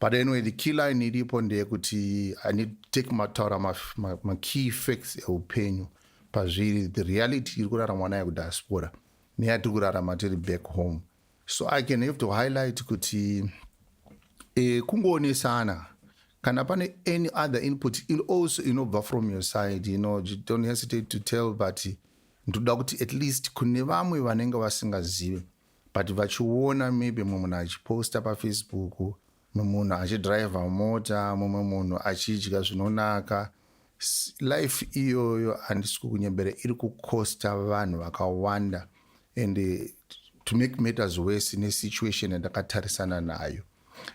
But anyway, the key line iripo ndeyekuti I need to take mataura makey facts eupenyu pazviri the reality iri kuraramwa nayo kudiaspora neyatiri kurarama tiri back home so i can have to highlight kuti e, kungoonesana kana pane any other input il also inobva from your side you know you don't hesitate to tell but ndoda kuti at least kune vamwe vanenge vasingazive but vachiona maybe mumwe munhu achiposta pafacebook mumwe munhu achidriver mota mumwe munhu achidya zvinonaka life iyoyo handisi kukunyembera iri kukosta vanhu vakawanda and eh, to make matters worse nesituation yandakatarisana nayo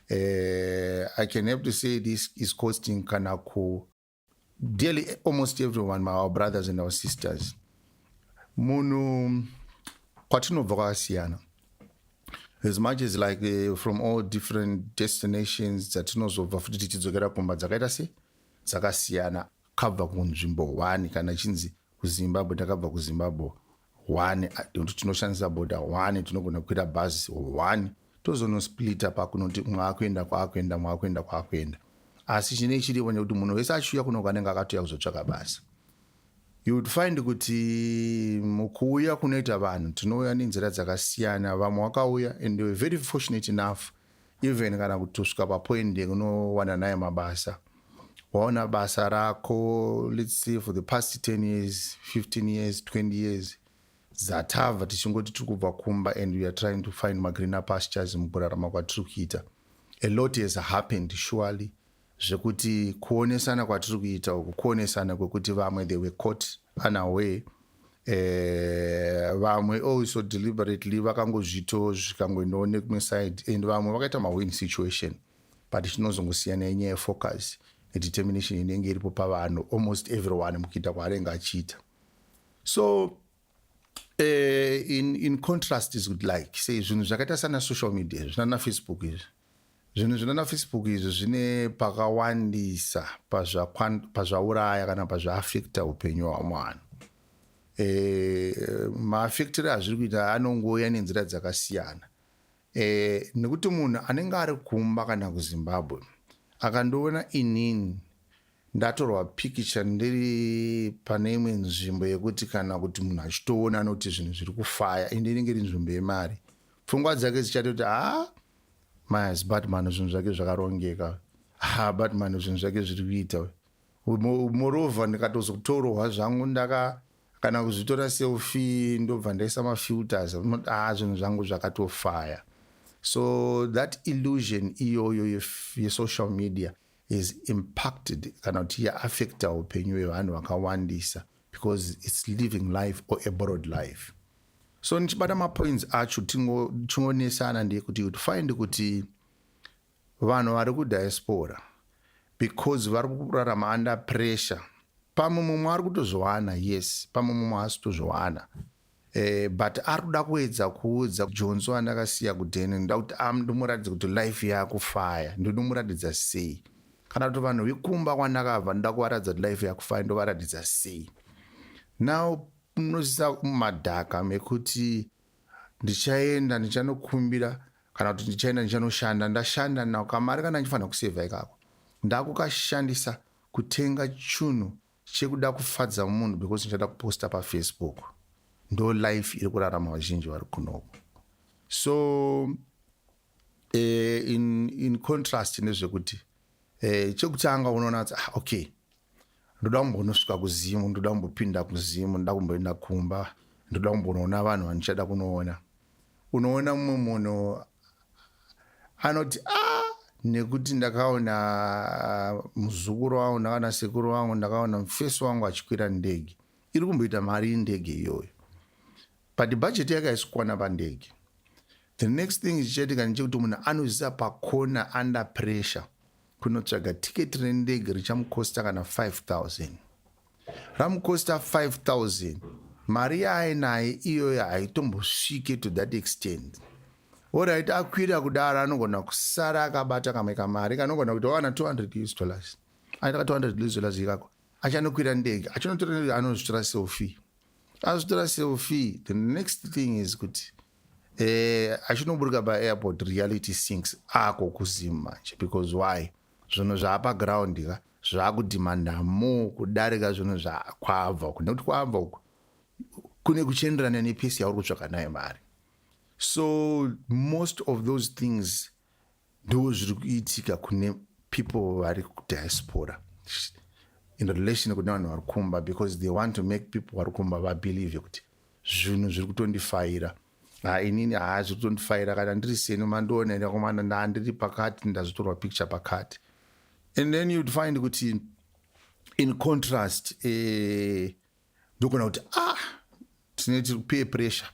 uh, i can have to say this is costing kana ku dearly almost everyone my our brothers and our sisters munhu kwatinobva kwakasiyana as much as like uh, from all different destinations dzatinozobva futi tichidzokera kumba dzakaita se dzakasiyana kabva kunzvimbo one kana chinzi kuzimbabwe takabva kuzimbabwe one tinoshandisa boda one tinogona kukwira bhazi one tozonosplita pakunoti umwe akuenda kwaakuenda umwe akuenda kwaakuenda asi chine chiripo nekuti munhu wese achiuya kunoko anenge akatouya kuzotsvaka basa you would find kuti mukuuya kunoita vanhu tinouya nenzira dzakasiyana vamwe wakauya and they were very fortunate enough even kana kutusvika papoint yekunowana naye mabasa waona basa rako let's say for the past 10 years 15 years 20 years zatava tichingoti tiri kubva kumba and weare trying to find magreener pastures mukurarama kwatiri kuita a lot has happened surely zvekuti kuonesana kwatiri kuita uku kuonesana kwekuti vamwe they were caught unaware Eh, vamwe uh, also deliberately vakangozvito zvikangoendawo nekumwe side and vamwe vakaita mawin situation but chinozongosiyana yenyaya yefocus nedetermination inenge iripo pavanhu almost everyone mukuita kwaanenge achiita so Eh, in, in contrast is good like se zvinhu zvakaita sana social media zvinana facebook izvi zvinhu zvinana facebook izvi zvine pakawandisa pazvauraya kana pazvaafekta upenyu hwamwe vanhu e, eh, maafektire azviri kuita anongouya nenzira dzakasiyana e, nekuti munhu anenge ari kumba kana kuzimbabwe akandiona inini ndatorwa pikicha ndiri pane imwe nzvimbo yekuti kana kuti munhu achitoona anoti zvinhu zviri kufaya ende inenge iri nzvimbo yemari pfungwa dzake dzichatoti ha mas batman zvinhu zvake zvakarongeka ha batman zvinhu zvake zviri kuita moreover ndikatozotorwa zvangu ndaka kana kuzvitora selfie ndobva ndaisa mafilters unoti ah zvinhu zvangu zvakatofaya so that illusion iyoyo yesocial ye media is impacted kana kuti yaaffecta upenyu hwevanhu vakawandisa because its living life or aborod life so ndichibata mapoints acho chingonesana ndeyekuti kuti find kuti Vanhu vari kudiaspora because vari kurarama under pressure. Pamwe mumwe ari kutozviwana, yes, pamwe mumwe haasi kutozviwana. Eh, but ari kuda kuedza kuudza jonzo andakasiya kudheni ndoda kuti ndomuratidza kuti life yakufaya ndinomuratidza sei kana kuti vanhu vekumba kwandakabva ndoda kuvaratidza kuti life yakufaya ndovaratidza sei now unosisa madhaka mekuti ndichaenda ndichanokumbira kana kuti ndichaenda ndichanoshanda ndashanda nao kamari kana ndifanira kusevha ikako ndakukashandisa kutenga chunhu chekuda kufadza munhu because ndichada kuposta pafacebook ndo life iri kurarama vazhinji vari kunoko so uh, in, in contrast nezvekuti uh, chekutanga unoona kuti ah, okay ndoda kumbonosvika kuzimu ndoda kumbopinda kuzimu ndoda kumboenda kumba ndoda kumbonoona vanhu vandichada kunoona unoona mumwe munhu anoti a ah, nekuti ndakaona ah, muzukuru wangu ndakaona sekuru wangu ndakaona mufesi wangu achikwira ndege iri kumboita mari indege iyoyo but bhajeti yake haisikukwana pandege the next thing ichichaitika ndechekuti munhu anoziva pakona under pressure kunotsvaga tiketi rendege richamukosta kana 5000 ramukosta 5000 mari yaainaye iyoyo haitombosvike to that extent orit akwira kudaro anogona kusara akabata kamwe kamari kanogona kuti wawana 200 us dollars aita ka 200 us dollars ikako achanokwira ndege achinotora anozvitora selfie azvitora selfie the next thing is kuti eh, achinoburika paairport reality sinks ako kuzim manje because why zvinhu zvaapa ground ka zvakudhimanda mo kudarika zvinhu zvakwabva uku nekuti kwabva uku kune kuchienderana nepesi yauri kutsvaka nayo mari so most of those things ndo zviri kuitika kune people vari kudiaspora in relation kune vanhu vari kumba because they want to make people vari kumba vabelieve kuti zvinhu zviri kutondifaira ha inini haa zviri kutondifaira kana ndiri seni mandiona enda komana ndaa ndiri pakati ndazvitorwa picture pakati and then you'd find kuti in contrast eh, ndokuona kuti ah tine tiri peer pressure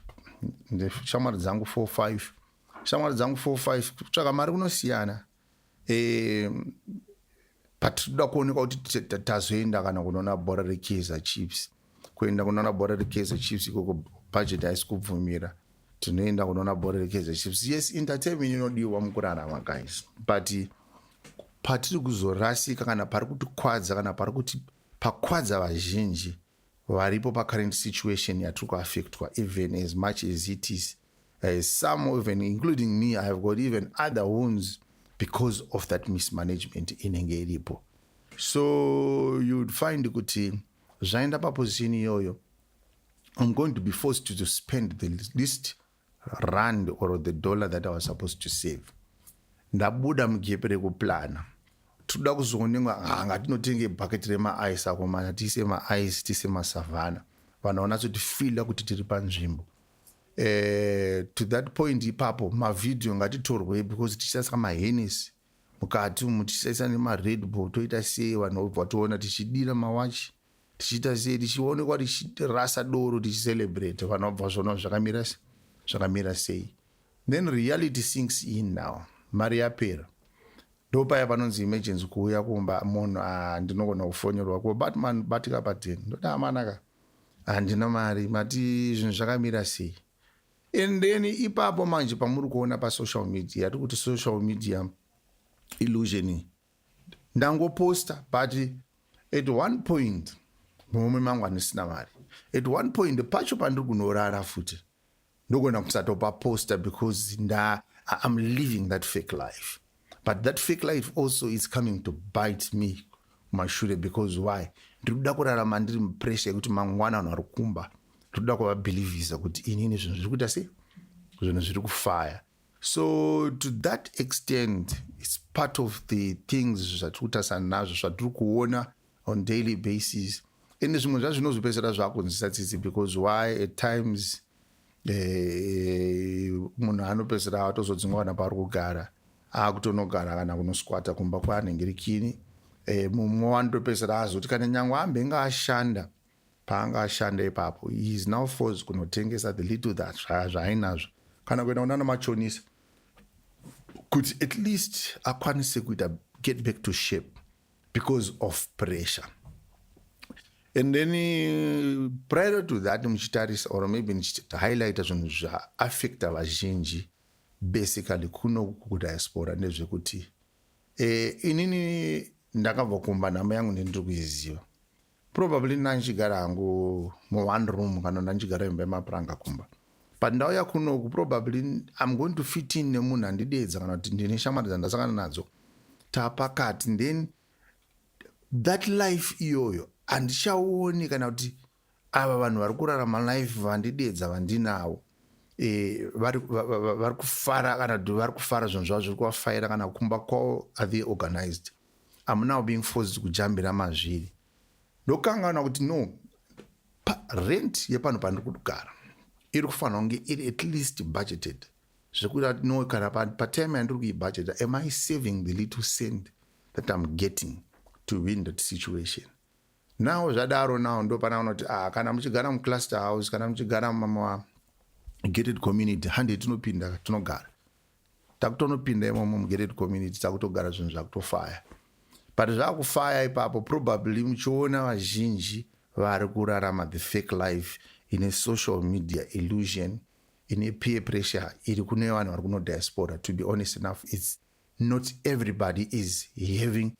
ndeshamwari dzangu four five shamwari dzangu four five kutsvaka mari kunosiyana um but tinoda kuonekwa kuti tazoenda kana kunoona bhora rekaizer chiefs kuenda kunoona bhora rekaizer chiefs ikoko budget haisi kubvumira tinoenda kunoona bhora rekaizer chiefs yes entertainment inodiwa mukurarama guys but patiri kuzorasika kana pari kutikwadza kana pari kuti pakwadza vazhinji varipo pacurrent situation yatiri kuaffectwa even as much as it is uh, some even including me i have got even other wounds because of that mismanagement inenge iripo so you'd find kuti zvaenda paposition iyoyo i'm going to be forced to, to spend the least rand or the dollar that i was supposed to save ndabuda mugepe rekuplana tinoda kuzoonenga hanga tinotenge bucket remaice akomana tiise maice tiise masavhana vanhu vanatsotifila kuti tiri panzvimbo eh, to that point ipapo mavhidhiyo ngatitorwei because tichisasa mahenesi mukati umu tichisasa nemaredbull toita sei vanhu vobva toona tichidira mawachi tichiita sei tichionekwa tichirasa doro tichicelebrate vana vabva zvona zvakamira zvakamira sei then reality sinks in now mari yapera ndopaya panonzi emergency kuuya kumba munhu ah, ndinogona kufonyorwa ko batman batika paten ndoda amanaka handina mari mati zvinhu zvakamira sei and then ipapo manje pamuri kuona pasocial media tiri kuti social media illusioni ndangoposta but at one point murume mangu andisina mari at one point pacho pandiri kunorara futi ndogona kusatopa posta because nda iam living that fake life but that fake life also is coming to bite me kumashure because why ndiri kuda kurarama ndiri mupressure yekuti mangwana vanhu vari kumba ndiri kuda kuvabhilivhisa kuti inini zvinhu zviri kuita sei zvinhu zviri kufaya so to that extent its part of the things zvatiri kutarisana nazvo zvatiri kuona on daily basis ende zvimwe zvacho zvinozopedzisira zvakunzisa tsitsi because why at times eh, munhu anopedzisira atozodzingwa kana paari kugara akutonogara kana kunosikwata kumba kwaanenge rikini eh, mumwe wanotopedzisira azoti kana nyange ambenge ashanda paanga ashanda ipapo he is now forced kunotengesa the little that zvaainazvo kana kuenda kunana machonisa kuti at least akwanise kuita get back to shape because of pressure and then uh, prior to that muchitarisa or maybe ndichihighlighta zvinhu zvaaffecta vazhinji basically kuno kudiaspora ndezvekuti e, inini ndakabva kumba nhamo yangu ndendiri kuiziva probably ndandichigara hangu mu one room kana ndandichigara imba yemapuranga kumba but ndauya kunoku probably im going to fit in nemunhu andideedza kana kuti ndine shamwari dzandasangana nadzo tapakati then that life iyoyo handichaoni kana kuti ava vanhu vari kurarama life vandideedza vandinavo e, vari kufara kana kuti vari kufara zvinhu zvavo zviri kuvafaira kana kumba kwavo are they organized I'm now being forced kujambira mazviri ndokangaona kuti no rent yepano pandiri kugara iri kufanira kunge iri at least budgeted zvekuita kuti no kana patime yandiri kuibudgeta am i saving the little cent that im getting to win that situation now zvadaro now ndo pana unoti ah, kana muchigara mucluster house kana muchigara mama gated community hande tinopinda tinogara takutonopinda imomo mugereti community takutogara zvinhu zvakutofaya but zvakufaya ipapo probably muchiona vazhinji vari kurarama the fake life ine social media illusion ine peer pressure iri kune vanhu vari kunodiaspora to be honest enough its not everybody is having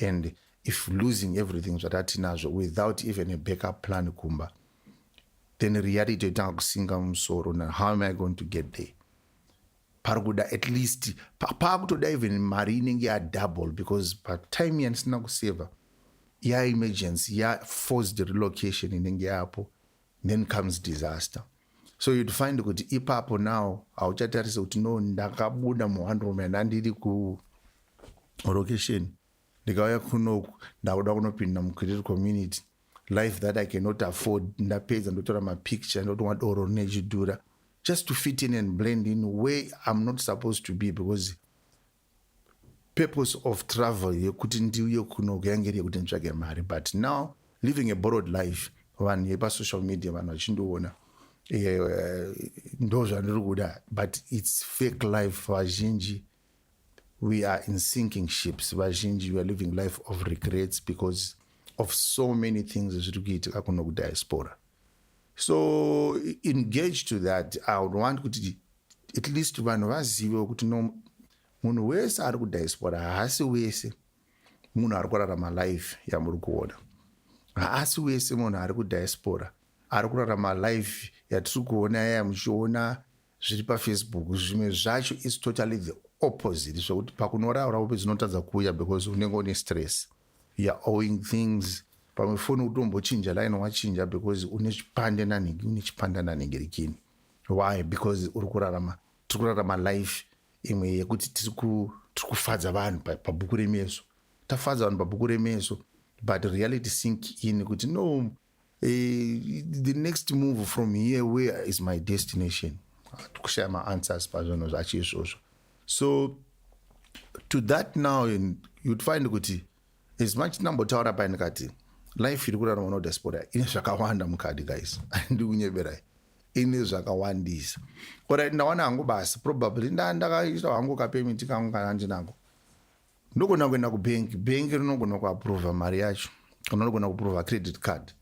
and if losing everything zvatatinazvo without even a backup plan kumba then reality yotanga kusinga musoro na how am i going to get there pari kuda at least paakutoda even mari inenge yadouble because patime yandisina kuseva yaemergency yaforced relocation inenge yapo then comes disaster so you'd find kuti ipapo now hauchatarise kuti no ndakabuda muhandroom and andiri kulocation ndikauya kunoku ndakuda kunopinda mucreate community life that i cannot afford ndapedza ndotora mapicture ndotomwa doro rine chidhura just to fit in and blend in where i'm not supposed to be because purpose of travel yekuti ndiuye kuno kuyange iri yekuti nditsvage mari but now living a borrowed life vanhu vepasocial media vanhu vachindiona eh, ndo zvandiri kuda but its fake life vazhinji we are in sinking ships vazhinji weare living life of regrets because of so many things zviri kuitika kuno kudiaspora so engage to that i would want kuti at least vanhu vazivewo kuti no munhu wese ari kudiaspora haasi wese munhu ari kurarama life yamuri kuona haasi wese munhu ari kudiaspora ari kurarama life yatiri kuona yaya muchiona zviri pafacebook zvimwe zvacho is totally the opposite zvekuti pakunoraura upe dzinotadza kuuya because unenge une stress youare owing things pamwe foni utombochinja line wachinja because une chipande nanhingi une chipanda nanhingi rikini why because uri kurarama tiri kurarama life imwe yekuti tiri kufadza vanhu pabhuku remeso tafadza vanhu pabhuku remeso but reality sink in kuti no Eh, the next move from here where is my destination kushaya maanswers pazvinhu zvacho izvozvo so to that now you'd find kuti as much ndambotaura pai ndikati life iri kurarama nodiaspora ine zvakawanda mukadi guys andi kunyeberai ine zvakawandisa orit ndawana hangu basi probably ndandakaita hangu kapemiti kangu kana ndinako ndogona kuenda kubank bank rinogona kuaprova mari yacho kana rinogona kuprova credit card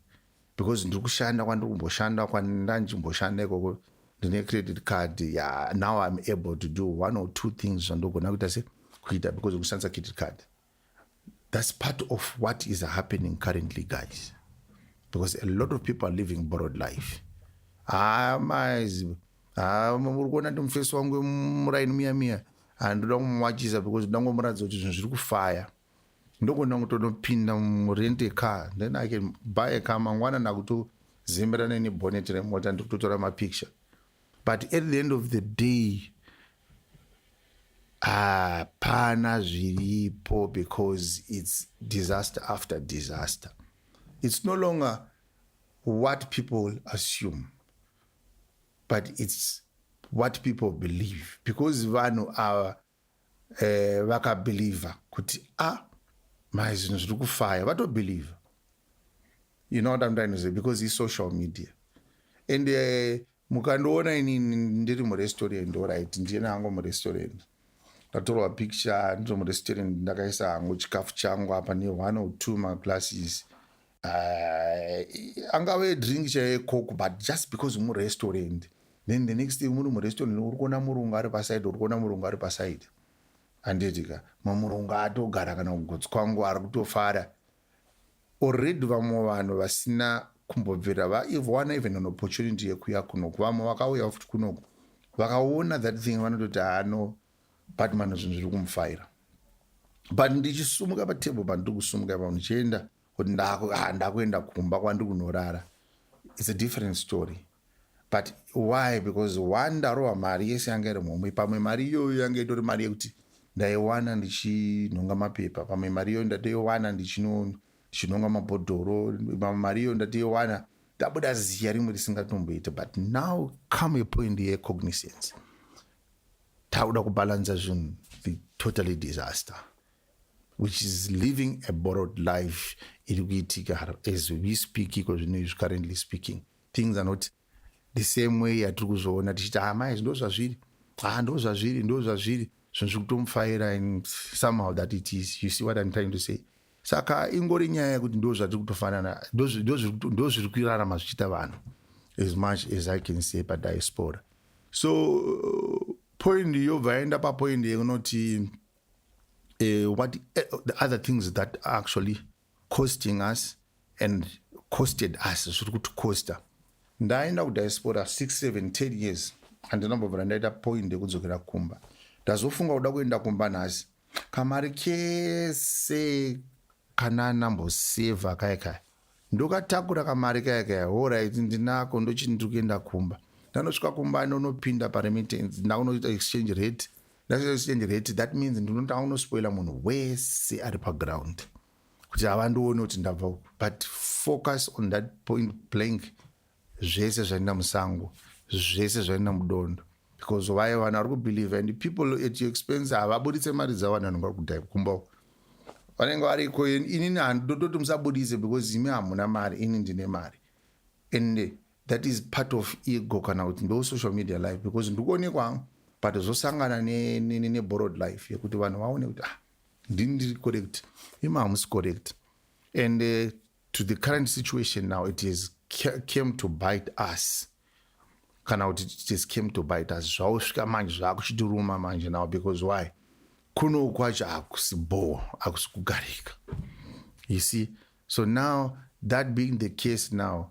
because ndiri kushanda kwandiri kumboshanda kwandanchimboshanda ikoko ndine credit card ya now im able to do one or two things zvandogona kuita se kuita because kushandisa credit card that's part of what is happening currently guys because a lot of people are living borrowed life haa ah, maizi haa ah, uri kuona ndi mufesi wangu muraini miya miya handida kumumwachisa because ndangomuratidza kuti zvinhu zviri kufaya ndokona kutonopinda murent ecar then i can buy a car mangwana ndakutozimbira neni bonnet remota ndiri kutotora mapicture but at the end of the day hapana ah, zviripo because its disaster after disaster its no longer what people assume but its what people believe because vanhu ava eh, vakabhilivha kuti a ah, mai zvinhu zviri kufaya vatobhilivha you know what I'm trying to say because it's social media and uh, mukandiona ini ndiri murestaurant orit ndiyena hangu murestaurant ndatorwa picture ndiri murestaurant ndakaisa hangu chikafu changu apa ne one or two maglasses uh, angave drink chaiye coke but just because murestaurant then the next day muri murestaurant uri kuona murungu ari paside uri kuona murungu ari paside anditika mamurungu atogara kana kugotsi kwangu ari kutofara already vamwe vanhu vasina kumbobvira vaivwana even an opportunity yekuya kunoku vamwe vakauya futi kunoku vakaona that thing vanototi hano batman zvinhu zviri kumufaira but ndichisumuka patable pandiri kusumuka pa ndichienda kuti ah, ndakuenda kumba kwandi kunorara its a different story but why because one ndarova mari yese yanga iri mhomwe pamwe mari iyoyo yanga itori mari yekuti ndaiwana ndichinhonga mapepa pamwe mari iyoyo ndatoiwana ndichinonga mabhodhoro pamwe mari iyoyo ndatoiwana ndabuda ziya rimwe risingatomboita but now come a point yecognizance takuda kubalansa zvinhu the totally disaster which is living a borrowed life iri kuitika as we speak iko zvino izvi currently speaking things are not the same way yatiri kuzoona tichiti amai ah, zvindo zvazviri a ah, ndo zvazviri ndo zvazviri zvinhu zviri kutomufaira and somehow that it is you see what im trying to say saka ingori nyaya yekuti ndo zvatiri kutofanana ndo zviri kuirarama zvichiita vanhu as much as i can say padiaspora so point yobva yaenda papoint yekunoti uh, what uh, the other things that are actually costing us and costed us zviri kuti costa ndaenda kudiaspora 6710 years andinambobvira ndaita point yekudzokera kumba ndazofunga kuda kuenda kumba nhasi kamari kese kana nambosevha kaya kaya ndokatakura kamari kaya kaya horit ndinako ndochindiri kuenda kumba ndanosvika kumba ndonopinda paremittance ndakunoita exchange rate ndazvichenjereti that means ndinotaa unospoila munhu wese ari paground kuti havandione kuti ndabva uku but focus on that point blank zvese zvainda musango zvese zvainda mudondo because vaye vanhu vari kubelieve and people at your expense havaburitse mari dzavo vanhu vanenge vari kudai kumba uku vanenge variko inini handidototi musabudise because imi hamuna mari ini ndine mari and that is part of ego kana kuti ndo social media life because ndikuonekwa hangu but zvosangana neborrowed ne, ne life yekuti vanhu vaone kuti ah ndini ndiri correct ima hamusi correct and uh, to the current situation now it is came to bite us kana kuti it is came to bite us zvausvika manje zvakuchitiruma manje now because why kuno kwacho hakusi bho hakusi kugarika you see so now that being the case now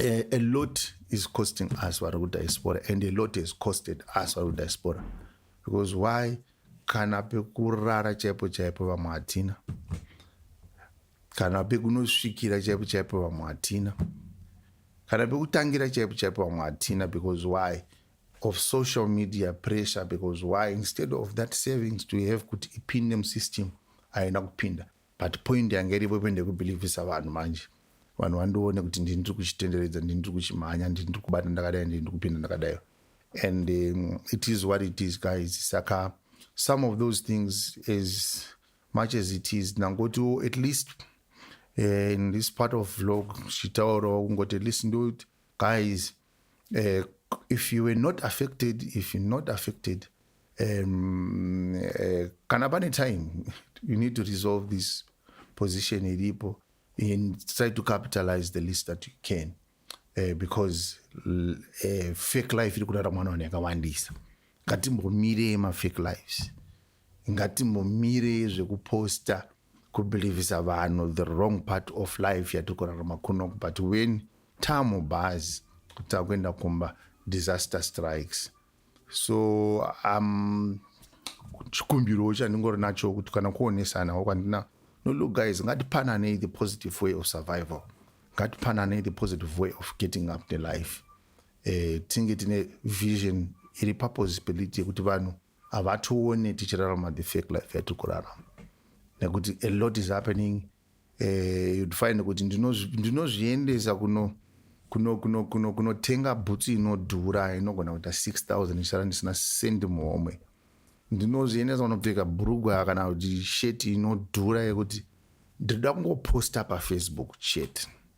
a, a lot is costing us vari kudiaspora and a lot has costed us vari kudiaspora because why kana pekurara chaipo chaipo vamwe hatina kana pekunosvikira chaipo chaipo vamwe hatina kana pekutangira chaipo chaipo vamwe hatina because why of social media pressure because why instead of that savings to have kuti ipinde musystem haina kupinda but point yanga iripo ipo ndekubhilivhisa vanhu manje vanhu vandione kuti ndini ndiri kuchitenderedza ndini ndiri kuchimhanya ndini ndiri kubata ndakadai ndini ndiri kupinda ndakadai and um, it is what it is guys saka some of those things as much as it is ndangotiwo at least uh, in this part of vlog zvichitaurawo kungoti at least ndo guys uh, if you were not affected if you not affected um, uh, kana pane time you need to resolve this position iripo and try to capitalize the least that you can uh, because uh, fake life iri kurara mwana vanhu yakawandisa ngatimbomirei mafake lives ngatimbomire zvekuposta kubhilivhisa vanhu the wrong part of life yatiri kurarama kunoku but when tamu bhazi kuti takuenda kumba disaster strikes so um, chikumbiro chandingori nacho kuti kana kuonesanawo kwandina no look guys ngatipananei the positive way of survival ngatipananei the positive way of getting up the life eh, tinge tine vision iri purpose peliti yekuti vanhu havatione tichirarama the fake life yatiri kurarama nekuti a lot is happening eh, you'd find kuti ndinozviendesa kuno kunotenga bhutsu inodhura inogona kuita 6000 ndichara ndisina sendi muhomwe ndinozviendesa kunopfeka bhurugwa kana kuti sheti inodhura yekuti ndinoda kungoposta pafacebook chete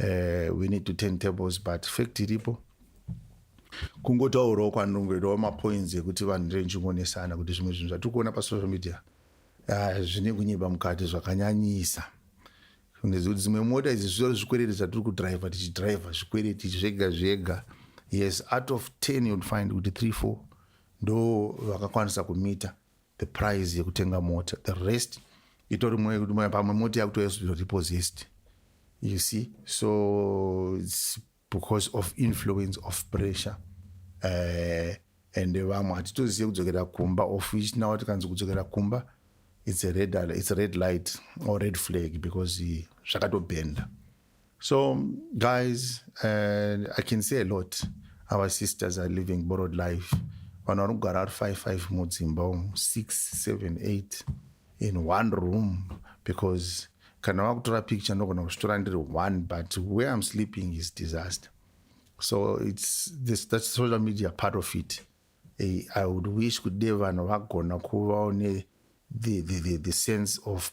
uh, we need to turn tables but fact iripo kungotaurawo kwanongoitawo mapoints ekuti vanhu renchingonesana kuti zvimwe zvinhu zvatiri kuona pasocial media ah, zvine kunyiba mukati zvakanyanyisa nezvekuti dzimwe mota idzi zvitori zvikwereti zvatiri kudriver tichidriver zvikwereti zvega zvega yes out of ten you'd find kuti three four ndo vakakwanisa kumita the price yekutenga mota the rest itori pamwe mota yakutoyazviro repossessed you see so it's because of influence of pressure uh, and vamwe hatitozive kudzokera kumba of which now tikanzi kudzokera kumba it's a red, it's a red light or red flag because zvakatobhenda uh, So guys, uh, I can say a lot. Our sisters are living borrowed life. Vanhu vari kugara ari five five mudzimba umu six seven eight in one room because kana vakutora picture ndogona kuzvitora ndiri one but where I'm sleeping is disaster. So it's this that's social media part of it. Eh, I would wish kuti dei vanhu vagona kuvawo ne the, the, the, the sense of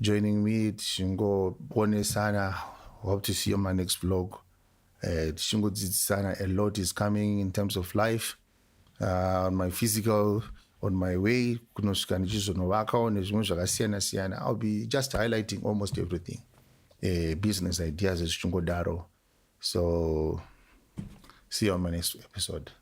joining me tichingoponesana hope to see you my next vlog eh, tichingodzidzisana uh, a lot is coming in terms of life uh, on my physical on my way kunosvika ndichizonovakawo nezvimwe zvakasiyana siyana ill be just highlighting almost everything uh, business ideas zvichingodaro so see you on my next episode